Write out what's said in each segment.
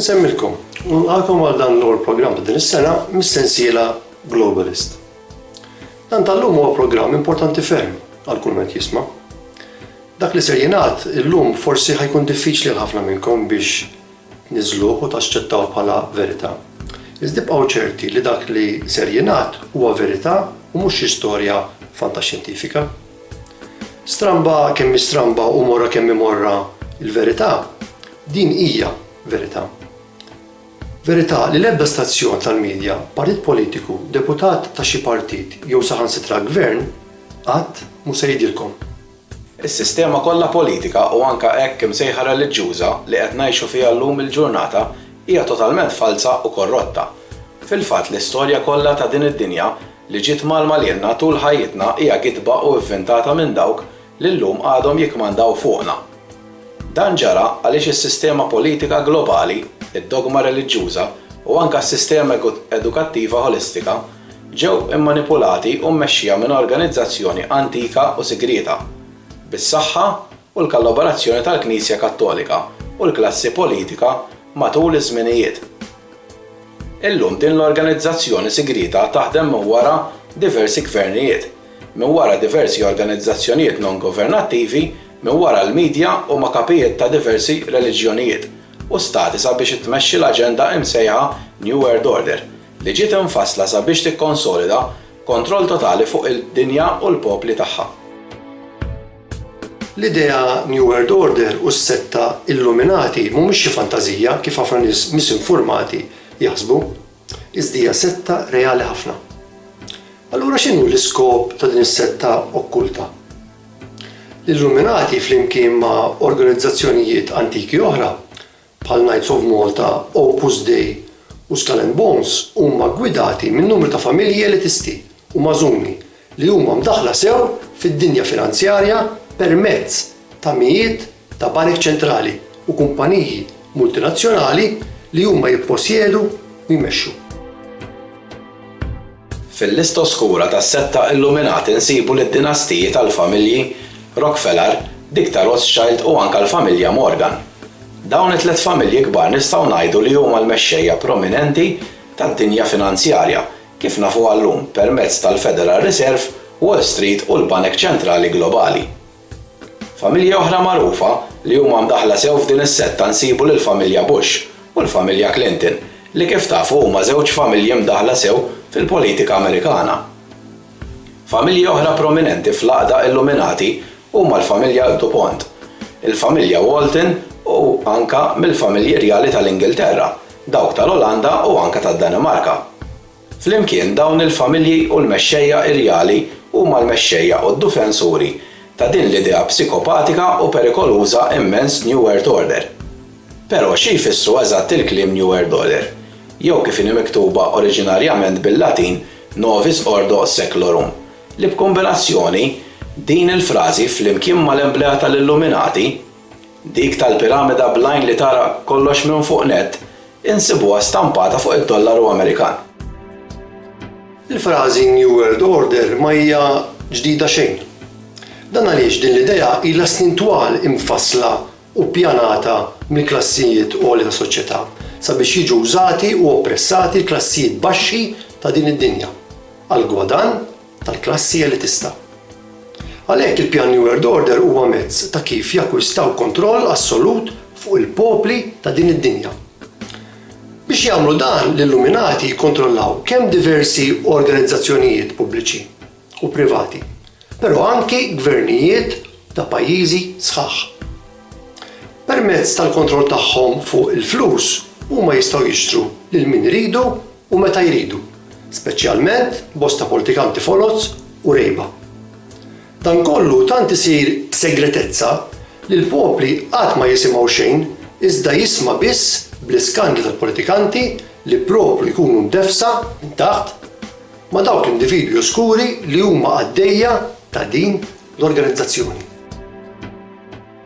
Nsemmilkom, nilqakom għal dan l-ewwel programm ta' din is-sena mis-sensiela Globalist. Dan tal-lum huwa programm importanti ferm għal kull ma jisma'. Dak li ser jingħad illum forsi ħajkun diffiċli għal ħafna minnkom biex niżżluh u taċċettawh bħala verità. Iżda ibqgħu ċerti li dak li ser jingħad huwa verità u mhux xi storja fantaxjentifika. Stramba kemm hi stramba u morra kemm hi morra l-verità, din hija verità. Verità li l-ebda stazzjon tal-midja, partit politiku, deputat ta' xi partit jew saħansitra gvern qatt mhu se jgħidilkom. Is-sistema kollha politika u anke hekk imsejħa reliġjuża li qed ngħixu fiha llum il-ġurnata hija totalment falza u korrotta. Fil-fatt l-istorja kollha ta' din id-dinja li ġiet mgħallma lilna tul ħajjitna hija gidba u ivvintata minn dawk li llum għadhom jikkmandaw fuqna. Dan ġara għaliex is-sistema politika globali, id-dogma reliġjuża u anke s-sistema edukattiva ħolistika, ġew immanipulati u mmexxija minn organizzazzjoni antika u sigrieta, bis-saħħa u l-kallaborazzjoni tal-Knisja Kattolika u l-klassi politika matul iż-żminijiet. Illum din l-organizzazzjoni sigrieta taħdem minn wara diversi gvernijiet, minn wara diversi organizzazzjonijiet non-governattivi, minn wara l-midja u ma' kapijiet ta' diversi reliġjonijiet u stati sabiex ittmexxi l-aġenda imsejħa New World Order, li ġiet imfassla sabiex tikkonsolida kontroll totali fuq id-dinja u l-popli tagħha. L-idea New World Order u s-setta Illuminati mhumiex xi fantażija kif ħafna nies misinfurmati jaħsbu, iżda hija setta reali ħafna. Allura x'inhu l-iskop ta' din is-setta okkulta? L-Illuminati flimkien ma' organizzazzjonijiet antiki oħra bħal Knights of Malta, Opus Dei u Skull and Bones huma ggwidati minn numru ta' familji elitisti u magħżuni li huma mdaħħla sew fid-dinja finanzjarja permezz ta' mijiet ta' banek ċentrali u kumpaniji multinazzjonali li huma jipposjedu u jmexxu. Fil-lista oskura tas-setta illuminati nsibu lid-dinastiji tal-familji Rockefeller, dik ta' Rothschild u anke l-familja Morgan. Dawn it-tliet familji kbar nistgħu ngħidu li huma l-mexxejja prominenti tad-dinja finanzjarja kif nafuha llum permezz tal-Federal Reserve, Wall Street u l-banek ċentrali globali. Familji oħra magħrufa li huma mdaħħla sew f'din is-setta nsibu lill-familja Bush u l-familja Clinton li kif tafu huma żewġ familji mdaħħla sew fil-politika Amerikana. Familji oħra prominenti fl-għaqda Illuminati huma l-familja Dupont, il-familja Walton u anke mill-familji rjali tal-Ingilterra, dawk tal-Olanda u anke tad-Danimarka. Flimkien, dawn il-familji u l-mexxejja irjali huma l-mexxejja u d-dufensuri ta' din l-idea psikopatika u perikoluża immens New Earth Order. Però xi jfissru eżatt il-kliem New Earth Order, jew kif inhi miktuba oriġinarjament bil-Latin Novis Ordo Seclorum, li b'kombinazzjoni, din il-frażi flimkien mal-emblea tal-Illuminati, Dik tal-piramida bl-għajn li tara kollox minn fuq nett insibuha stampata fuq id-dollaru Amerikan. Il-frażi New World Order ma hija ġdida xejn. Dan għaliex din l-idea ilha snin twal imfassla u ppjanata mill-klassijiet għolja tas-soċjetà sabiex jiġu wżati u oppressati l-klassijiet baxxi ta' din id-dinja għall-gwadann tal-klassi elitista. Għalhekk il-pjan New World Order huwa mezz ta' kif jakkwistaw kontroll assolut fuq il-popli ta' din id-dinja. Biex jagħmlu dan, l-Illuminati jikkontrollaw kemm diversi organizzazzjonijiet pubbliċi u privati, però anki gvernijiet ta' pajjiżi sħaħ. Permezz tal-kontroll tagħhom fuq il-flus, huma jistgħu jixtru lil min iridu u meta jridu, speċjalment bosta politikanti foloz u rejba. Dan kollu tant isir b'segretezza li l-popli qatt ma jisimgħu xejn iżda jisma' biss bl-iskandli tal-politikanti li propru jkunu mdeffsa minn taħt ma' dawk l-individwi oskuri li huma qaddejja ta' din l-organizzazzjoni.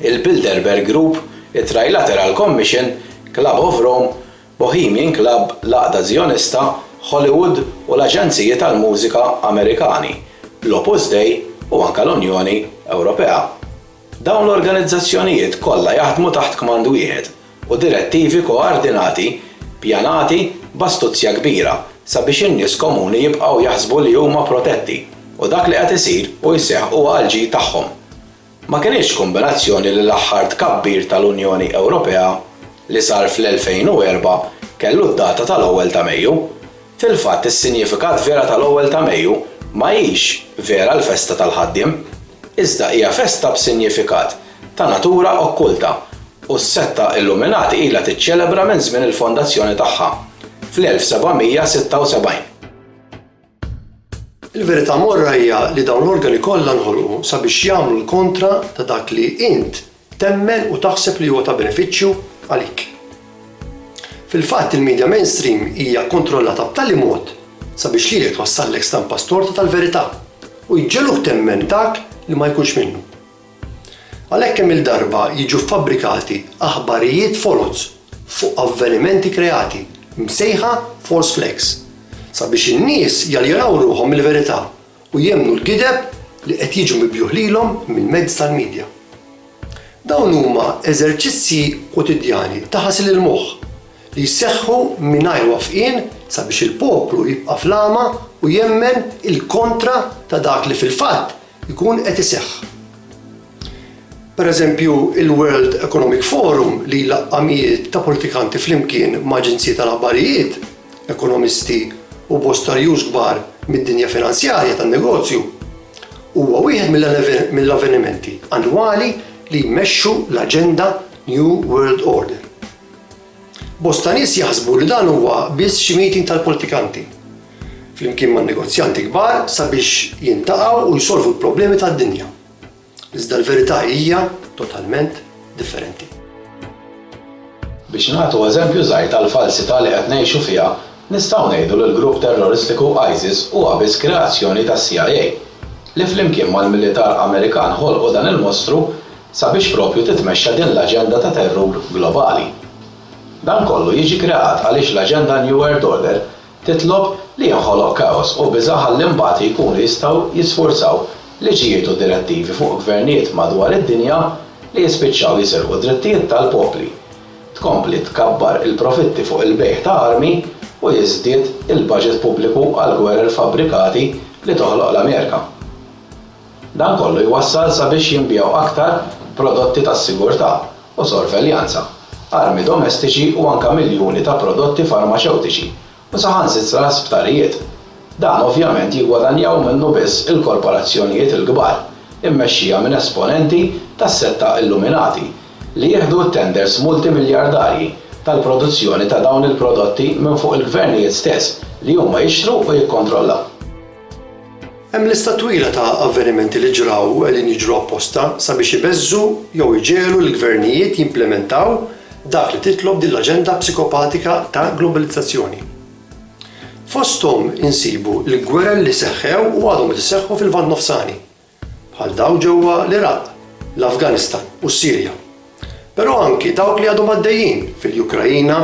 il-Bilderberg Group, it-Trilateral Commission, Club of Rome, Bohemian Club, l-Għaqda Żjonista, Hollywood u l-Aġenziji tal-Mużika Amerikani, l-Opus Dei u anke l-Unjoni Ewropea. Dawn l-organizzazzjonijiet kollha jaħdmu taħt kmand wieħed u direttivi koardinati ppjanati b'astuzja kbira sabiex in-nies komuni jibqgħu jaħsbu li huma protetti u dak li qed isir u jseħħ huwa għall-ġid tagħhom. Ma kinitx kombinazzjoni li l-aħħar tkabbir tal-Unjoni Ewropea li sar fl-2004 kellu d-data tal-ewwel ta' Mejju. Fil-fatt is-sinjifikat vera tal-ewwel ta' Mejju ma hix vera l-festa tal-ħaddiem, iżda hija festa b'sinjifikat ta' natura okkulta u s-setta Illuminati ilha tiċċelebra minn żmien il-fondazzjoni tagħha fl-1776. Il-verità morra hija li dawn l-organi kollha nħolqu sabiex jagħmlu l-kontra ta' dak li int temmen u taħseb li huwa ta' benefiċċju għalik. Fil-fatt il-midja mainstream hija kkontrollata b'tali mod sabiex lilek twassallek stampa storta tal-verità u jġegħluk temmen dak li ma jkunx minnu. Għalhekk kemm-il darba jiġu ffabrikati aħbarijiet foloz fuq avvenimenti kreati, msejħa false flags, sabiex in-nies jaljenaw ruħhom mill-verità u jemmnu l-gideb li qed jiġu mibjugħ lilhom mill-mezzi tal-midja. Dawn huma eżerċizzji kwotidjani ta' ħasil il-moħħ li jseħħu mingħajr wafqien sabiex il-poplu jibqa' fl-għama u jemmen il-kontra ta' dak li fil-fatt jkun qed iseħħ. Pereżempju, il-World Economic Forum li jlaqqa' mijiet ta' politikanti flimkien ma' aġenziji tal-aħbarijiet, ekonomisti u bosta rjus kbar mid-dinja finanzjarja tan-negozju, huwa wieħed mill-avvenimenti annwali li jmexxu l-aġenda New World Order. Bosta nies jaħsbu li dan huwa biss xi meeting tal-politikanti, flimkien man-negozjanti kbar sabiex jintaqgħu u jsolvu l-problemi tad-dinja. Iżda l-verità hija totalment differenti. Biex nagħtu eżempju żgħir tal-falsità li qed ngħixu fiha, nistgħu ngħidu li l-grupp terroristiku ISIS huwa biss kreazzjoni tas-CIA, li flimkien mal-militar Amerikan ħolqu dan il-mostru, sabiex proprju titmexxa din l-aġenda ta' terrur globali. Dan kollu jiġi kreat għaliex l-aġenda New World Order titlob li jinħoloq kaos u biża' ħalli mbagħad jkunu jistgħu jisfurzaw liġijiet u direttivi fuq gvernijiet madwar id-dinja li jispiċċaw jisirqu d-drittijiet tal-popli, tkompli tkabbar il-profitti fuq il-bejgħ ta' armi u jiżdied il-baġit pubbliku għall-gwerer fabbrikati li toħloq l-Amerika. Dan kollu jwassal sabiex jinbiegħu aktar prodotti tas-sigurtà u sorveljanza, armi domestiċi u anke miljuni ta' prodotti farmaċewtiċi u saħansitra sptarijiet. Dan ovvjament jiggwadanjaw minnu biss il-korporazzjonijiet il-kbar immexxija minn esponenti tas-setta illuminati li jieħdu t-tenders multimiljardarji tal-produzzjoni ta' dawn il-prodotti minn fuq il-gvernijiet stess li huma jixtru u jikkontrollaw. Hemm lista twila ta' avvenimenti li ġraw u qegħdin jiġru apposta sabiex ibeżżu jew iġegħlu lill-gvernijiet jimplimentaw dak li titlob din l-aġenda psikopatika ta' globalizzazzjoni. Fosthom insibu l-gwerer li seħħew u għadhom qed iseħħu fil-Lvant Nofsani, bħal dawk ġewwa l-Iraq, l-Afganistan u s-Sirja, però anki dawk li għadhom għaddejjin fil-Ukraina,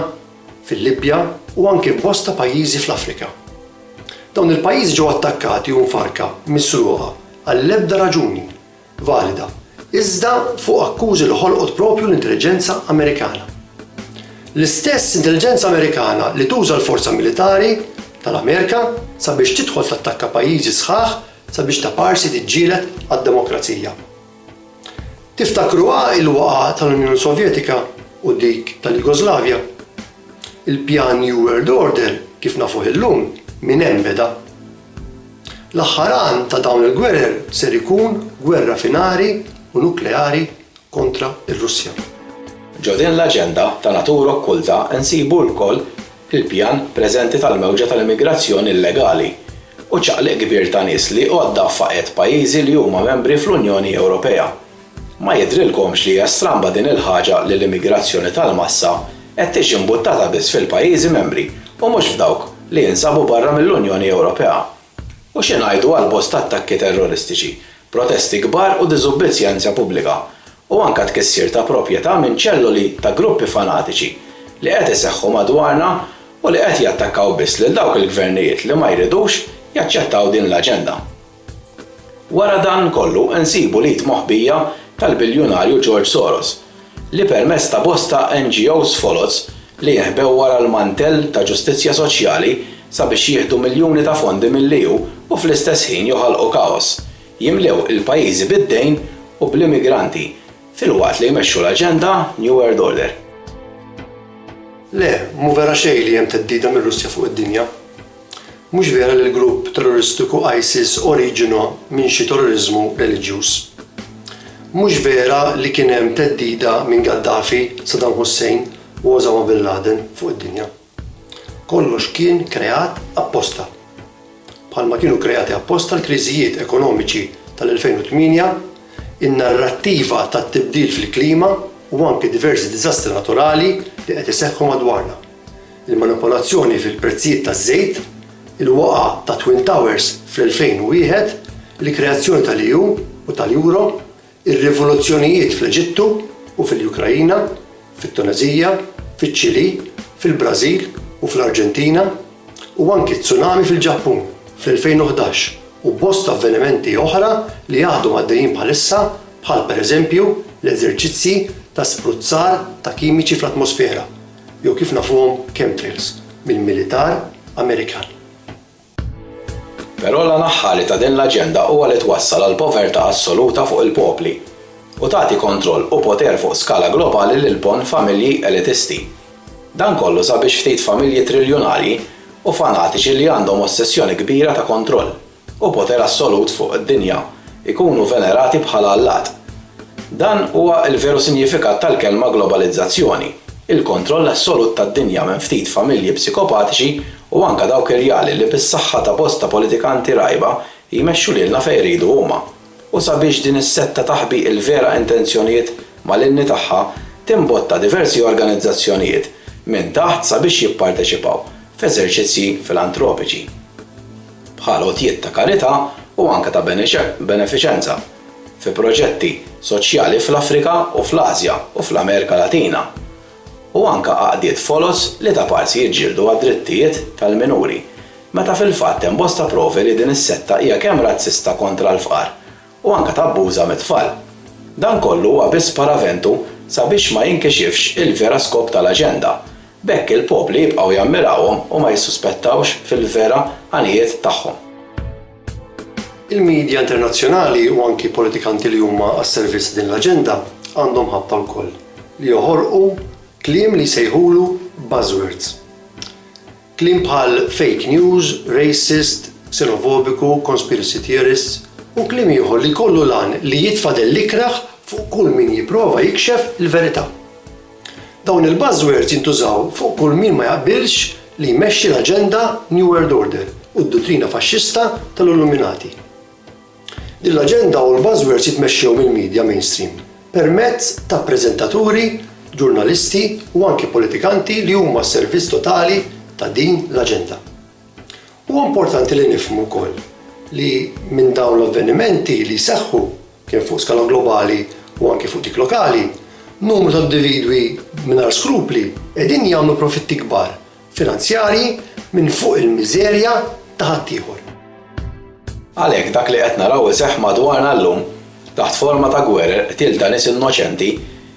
fil-Libja u anki f'bosta pajjiżi fl-Afrika. Dawn il-pajjiżi ġew attakkati u mfarrka misruqa għall-ebda raġuni valida iżda fuq akkużi li ħolqot proprju l-intelliġenza Amerikana. L-istess intelliġenza Amerikana li tuża l-forza militari tal-Amerika sabiex tidħol tattakka pajjiżi sħaħ sabiex ta' parsi tiġġieled għad-demokrazija. Tiftakruha l-waqgħa tal-Unjoni Sovjetika u dik tal-Jugoslavja? Il-pjan New World Order kif nafuh illum minn hemm beda. L-aħħar għan ta' dawn il-gwerer ser ikun gwerra finali u nukleari kontra r-Russja. Ġo din l-aġenda ta' natura okkulta nsibu lkoll il-pjan preżenti tal-mewġa tal-immigrazzjoni illegali u ċaqliq kbir ta' nies li għodda faqgħet pajjiżi li huma membri fl-Unjoni Ewropea. Ma jidhrilkomx li hija stramba din il-ħaġa li l-immigrazzjoni tal-massa qed tiġi mbuttata biss fil-pajjiżi membri u mhux f'dawk li jinsabu barra mill-Unjoni Ewropea? U xi ngħidu għal bosta attakki terroristiċi, protesti kbar u diżubbidżjenza pubblika, u anke tkissir ta' proprjetà minn ċelloli ta' gruppi fanatiċi li qed iseħħu madwarna u li qed jattakkaw biss lil dawk il-gvernijiet li ma jridux jaċċettaw din l-aġenda. Wara dan kollu nsibu l-id moħbija tal-biljunarju George Soros li permezz ta' bosta NGOs foloz li jeħbew wara l-mantell ta' ġustizzja soċjali sabiex jieħdu miljuni ta' fondi mill-EU u fl-istess ħin joħolqu kaos, jimlew il-pajjiżi bid-dejn u bl-immigranti filwaqt li jmexxu l-aġenda New World Order. Le, mhu vera xejn li hemm theddida mir-Russja fuq id-dinja. Mhux vera li l-grupp terroristiku ISIS oriġina minn xi terroriżmu reliġjuż. Mhux vera li kien hemm theddida minn Gaddafi, Saddam Hussein u Osama Bin Laden fuq id-dinja. Kollox kien kreat apposta. Bħalma kienu kreati apposta l-kriżijiet ekonomiċi tal-2008, in-narrattiva tat-tibdil fil-klima u anki diversi diżastri naturali li qed iseħħu madwarna. il-manipolazzjoni fil-prezzijiet taż-żejt, il-waqgħa tat-Twin Towers fl-2001, il-kreazzjoni tal-EU u tal-Euro, ir-rivoluzzjonijiet fl-Eġittu u fil-Ukraina, fit-Tuneżija, fiċ-Ċilì, fil-Brażil u fl-Arġentina, u anki t-tsunami fil-Ġappun fl-2011 u bosta avvenimenti oħra li għadhom għaddejjin bħalissa bħal pereżempju l-eżerċizzji ta' spruzzar ta' kimiċi fl-atmosfera jew kif nafuhom chemtrails, mill-militar Amerikan. Però l-għan aħħari ta' din l-aġenda huwa li twassal għal povertà assoluta fuq il-popli u tagħti kontroll u poter fuq skala globali lil bon familji elitisti. Dan kollu sabiex ftit familji triljunarji u fanatiċi li għandhom ossessjoni kbira ta' kontroll. u poter assolut fuq id-dinja, ikunu venerati bħala allat. Dan huwa l-veru sinjifikat tal-kelma globalizzazzjoni, il-kontroll assolut tad-dinja minn ftit familji psikopatiċi u anke dawk irjali li bis-saħħa ta' bosta politikanti rgħiba jmexxu lilna fejn iridu huma. U sabiex din is-setta taħbi l-vera intenzjonijiet malinni tagħha, timbotta diversi organizzazzjonijiet minn taħt sabiex jipparteċipaw f'eżerċizzji filantropiċi. bħal għotjiet ta' karità u anke ta' benefiċenza fi proġetti soċjali fl-Afrika u fl-Asja u fl-Amerika Latina, u anke għaqdiet foloz li ta' parsi jiġġieldu għad-drittijiet tal-minuri, meta fil-fatt hemm bosta provi li din is-setta hija kemm razzista kontra l-fqar u anke tabbuża mit-tfal. Dan kollu huwa biss paraventu sabiex ma jinkixifx il-vera skop tal-aġenda, b'hekk il-popli jibqgħu jammirawhom u ma jissuspettawx fil-vera għanijiet tagħhom. Il-midja internazzjonali u anki politikanti li huma għas-servizz ta' din l-aġenda għandhom ħabta wkoll li joħorqu kliem li jsejħulu buzzwords. Kliem bħal fake news, racist, xenofobiku, conspiracy theorists u kliem ieħor li jkollu l-għan li jitfa' dell-ikrah fuq kull min jipprova jikxef il-verità. Dawn il-buzzwords jintużaw fuq kull min ma jaqbilx li jmexxi l-aġenda New World Order u d-duttrina faxxista tal-Illuminati. Din l-aġenda u l-buzzwords jitmexxew mill-media mainstream permezz ta' preżentaturi, ġurnalisti u anki politikanti li huma s-servizz totali ta' din l-aġenda. Huwa importanti li nifhmu wkoll li minn dawn l-avvenimenti li jseħħu, kemm fuq skala globali u anki fuq dik lokali, numru ta' individwi mingħajr skrupli qegħdin jagħmlu profitti kbar finanzjarji minn fuq il-miżerja ta' ħaddieħor. Għalhekk dak li qed naraw iseħħ madwarna llum, taħt forma ta' gwerer, qtil ta' nies innoċenti,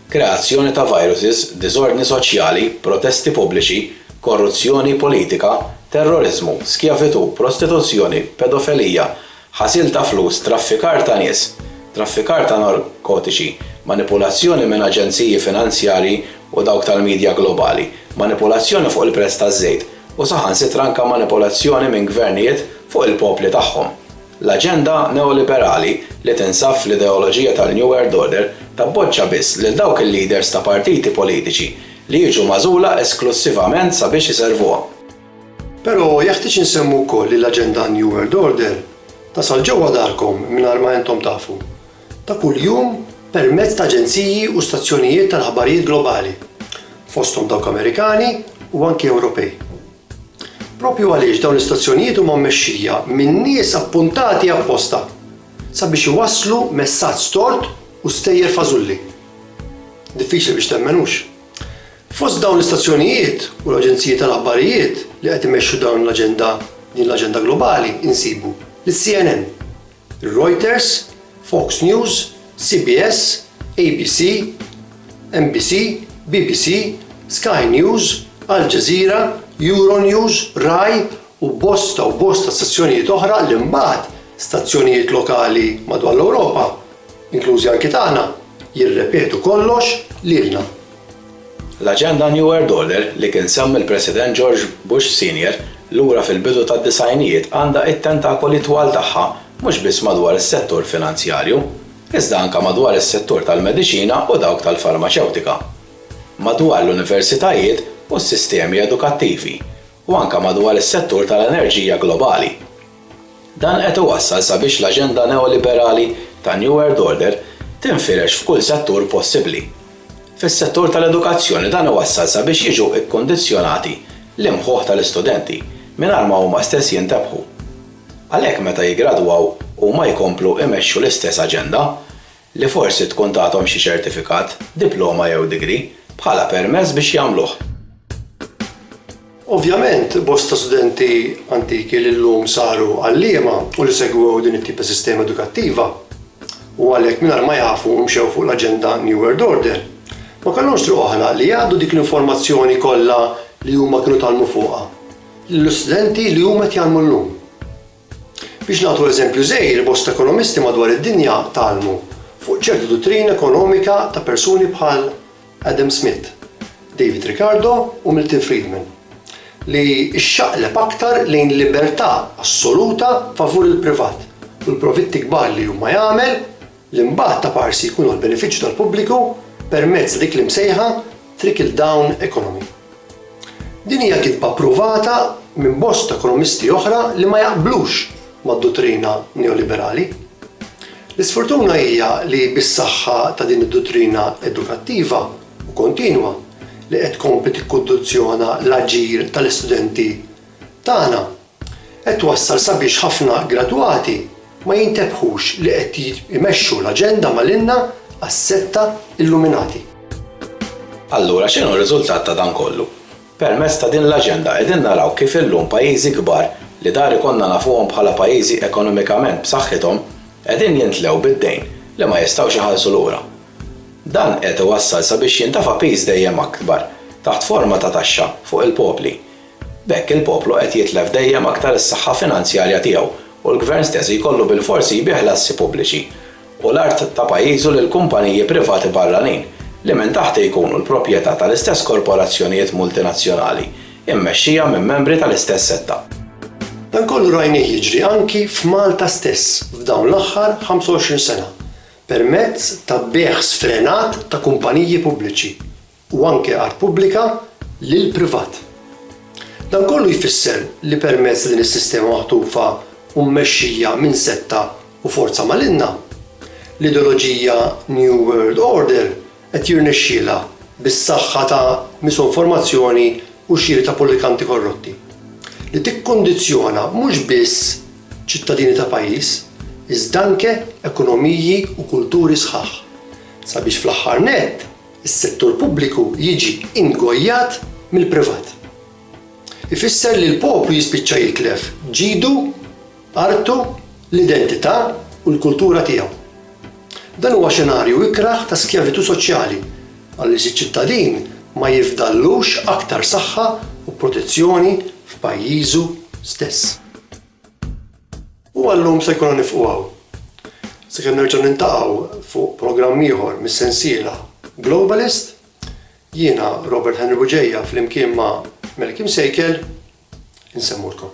kreazzjoni ta' viruses, diżordni soċjali, protesti pubbliċi, korruzzjoni politika, terroriżmu, skjavitù, prostituzzjoni, pedofelija, ħasil ta' flus, traffikar ta' nies, traffikar ta' narkotiċi, manipulazzjoni minn aġenziji finanzjarji u dawk tal-midja globali, manipulazzjoni fuq il-prezz taż-żejt, u saħansitra anke manipulazzjoni minn gvernijiet fuq il-popli tagħhom. L-aġenda neoliberali li tinsab fl-ideoloġija tal-New World Order tappoġġa biss lil dawk il-leaders ta' partiti politiċi li jiġu magħżula esklussivament sabiex iservuha. Però jeħtieġ insemmu wkoll li l-aġenda New World Order tasal ġewwa darkom mingħajr ma intom tafu, ta' kuljum permezz ta' aġenziji u stazzjonijiet tal-aħbarijiet globali, fosthom dawk Amerikani u anki Ewropej. Proprju għaliex dawn l-istazzjonijiet huma mmexxija minn nies appuntati apposta sabiex iwasslu messaġġ tort u stejjer fażulli. Diffiċli biex temmen, hux? Fost dawn l-istazzjonijiet u l-aġenziji tal-aħbarijiet li qed imexxu dawn l-aġenda din l-aġenda globali insibu lis-CNN, ir-Reuters, Fox News, CBS, ABC, NBC, BBC, Sky News, Al Jazeera, Euronews, Rai u bosta u bosta stazzjonijiet oħra li mbagħad stazzjonijiet lokali madwar l-Ewropa, inklużi anki tagħna, jirrepetu kollox lilna. L-aġenda New World Order li kien sehem il-President George Bush Senior lura fil-bidu tad-disgħinijiet għandha t-tentakoli twal tagħha mhux biss madwar is-settur finanzjarju, iżda anke madwar is-settur tal-mediċina u dawk tal-farmaċewtika, madwar l-universitajiet u s-sistemi edukattivi, u anke madwar is-settur tal-enerġija globali. Dan qed iwassal sabiex l-aġenda neoliberali tan-New World Order tinfirex f'kull settur possibbli. Fis-settur tal-edukazzjoni dan iwassal sabiex jiġu kkundizzjonati l-imħuħ tal-istudenti mingħajr ma huma stess jintebħu. Għalhekk meta jiggradwaw huma jkomplu imexxu l-istess aġenda, li forsi tkun tathom xi ċertifikat, diploma jew degree, bħala permess biex jagħmluh. Ovvjament, bosta studenti antiki li llum saru għalliema u li segwew din it-tip ta' sistema edukattiva, u għalhekk mingħajr ma jafu mxew fuq l-aġenda New World Order, ma kellhomx triq oħra li jgħaddu dik l-informazzjoni kollha li huma kienu tgħallmu fuqha lill-istudenti li huma qed jgħallmu llum. Biex nagħtu eżempju żgħir, bosta ekonomisti madwar id-dinja tgħallmu fuq ċertu duttrina ekonomika ta' persuni bħal Adam Smith, David Ricardo u Milton Friedman, li xxaqleb aktar lejn libertà assoluta favur il-privat u l-profitti kbar li hu ma jagħmel li mbagħad ta' parsi jkunu għall-benefiċċju tal-pubbliku permezz ta' dik l-imsejħa trickle-down economy. Din hija gidba pruvata minn bosta ekonomisti oħra li ma jaqblux mad-duttrina neoliberali. L-isfurtuna hija li bis-saħħa ta' din id-duttrina edukattiva u kontinwa li qed tkompli tikkundizzjona l-aġir tal-istudenti tagħna, qed twassal sabiex ħafna gradwati ma jintebħux li qed imexxu l-aġenda malinna għas-setta illuminati. Allura x'inhu r-riżultat ta' dan kollu? Permezz ta' din l-aġenda qegħdin naraw kif illum pajjiżi kbar li dahar ikollna nafuhom bħala pajjiżi ekonomikament b'saħħithom qegħdin jintlew bid-dejn li ma jistgħux iħallsu lura. Dan qed iwassal sabiex jintefa' piż dejjem akbar taħt forma ta' taxxa fuq il-popli B'hekk il-poplu qed jitlef dejjem aktar is-saħħa finanzjarja tiegħu u l-Gvern stess jkollu bilforsi jbigħ l-assi pubbliċi u l-art ta' pajjiżu lil kumpaniji privati barranin li minn taħt jkunu l-proprjetà tal-istess korporazzjonijiet multinazzjonali mmexxija minn membri tal-istess setta. Dan kollu rajnih jiġri anki f'Malta stess f'dawn l-aħħar 25 sena permezz ta' bejgħ sfrenat ta' kumpaniji pubbliċi. u anke għal pubblika lil privat. Dan kollu jfisser li permezz ta' din is-sistema maħtufa u mmexxija minn setta u forza malinna, l-ideoloġija New World Order qed jirnexxielha bis-saħħa ta' misinformazzjoni u xiri ta' politikanti korrotti, li tikkundizzjona mhux biss ċittadini ta' pajjiż, iżda anke ekonomiji u kulturi sħaħ, sabiex fl-aħħar nett, Is-settur pubbliku jiġi ingojjat mill-privat. Ifisser li l-poplu jispiċċa jitlef ġidu, artu, l-identità u l-kultura tiegħu. Dan huwa xenarju ikrah ta' skjavitù soċjali għaliex iċ-ċittadin ma jifdallux aktar saħħa u protezzjoni f'pajjiżu stess. U għal-lum se jkollna nifqu hawn, sakemm nerġgħu niltaqgħu fuq programm ieħor mis-sensiela Globalist. Jiena Robert Henry Bugeja flimkien ma' Melky Msejkel insemmulkom.